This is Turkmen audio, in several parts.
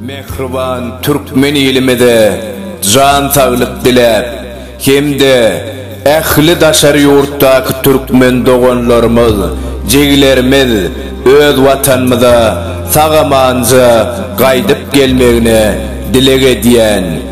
Mähriban türkmen ilimize jan saglyk diläp, hem-de ähli daşary ýurtdaky türkmen doganlarymyz, jigilerimiz öz Watanymyza sag-amanja gaýdyp gelmegine dileg edýän.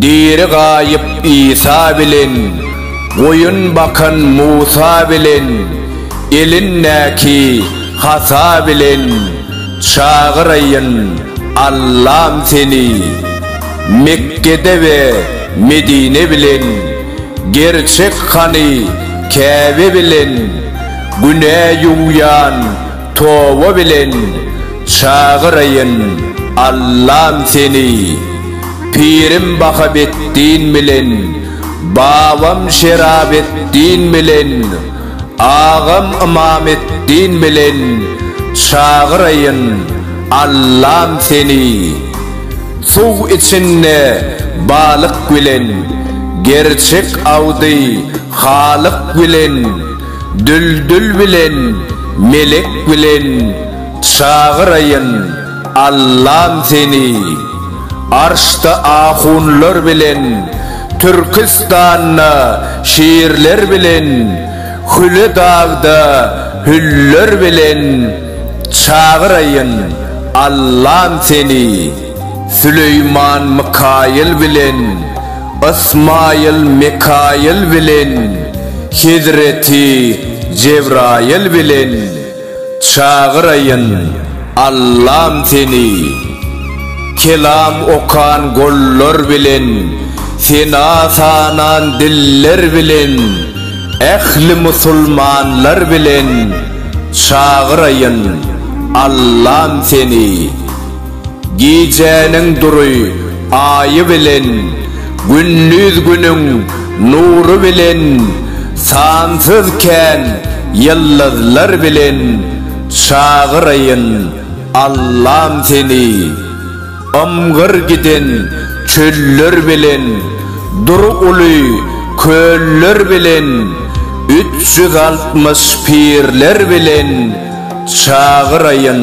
Diri gaýyp Isa bilen, Goýun bakan Musa bilen, Elindäki hasa bilen, Çagyraýyn, Allam, seni. Mekgede we Medine bilen, Gerçek hany Käbe bilen, Günä ýuwýan Toba bilen çagyraýyn Allam seni Pirim Bahabeddin bilen Babam Şerabeddin bilen Agam Ymameddin bilen çagyraýyn Allam seni Suw içinde balyk bilen Gerçek awdy Halyk bilen Düldül bilen melek bilen çagyraýyn Allam seni Arşda ahunlar bilen Türkistanda şirler bilen Hüle dagda hüller bilen çagyraýyn Allam seni. Süleýman Mykaýyl bilen Ysmaýyl Mekaýyl bilen Hezreti Jebraýyl bilen Çagyraýyn Allam seni Kelam okan gollar bilen Sena sanan diller bilen Ähli musulmanlar bilen Çagyraýyn Allam seni. Gijäniň dury Aýy bilen, Gündiz Günüň nury bilen, Sansyz kän ýyldyzlar bilen Çagyraýyn Allam seni. Ymgyr giden çöller bilen, Dury uly köller bilen, Üç ýüz altmyş pirler bilen Çagyraýyn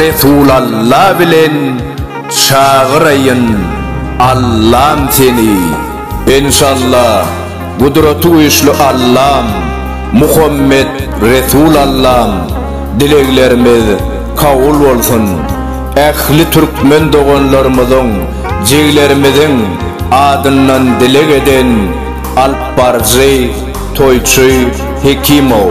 Resul Alla bilen çagyraýyn Allam seni Enşalla Gudraty güýçli Allam Muhammet Resul Allam Dileglerimiz kabul bolsun Ähli Türkmen doganlarymyzyň Jiglerimiziň adyndan dileg eden Alpbaryjy Toýçy Hekimow.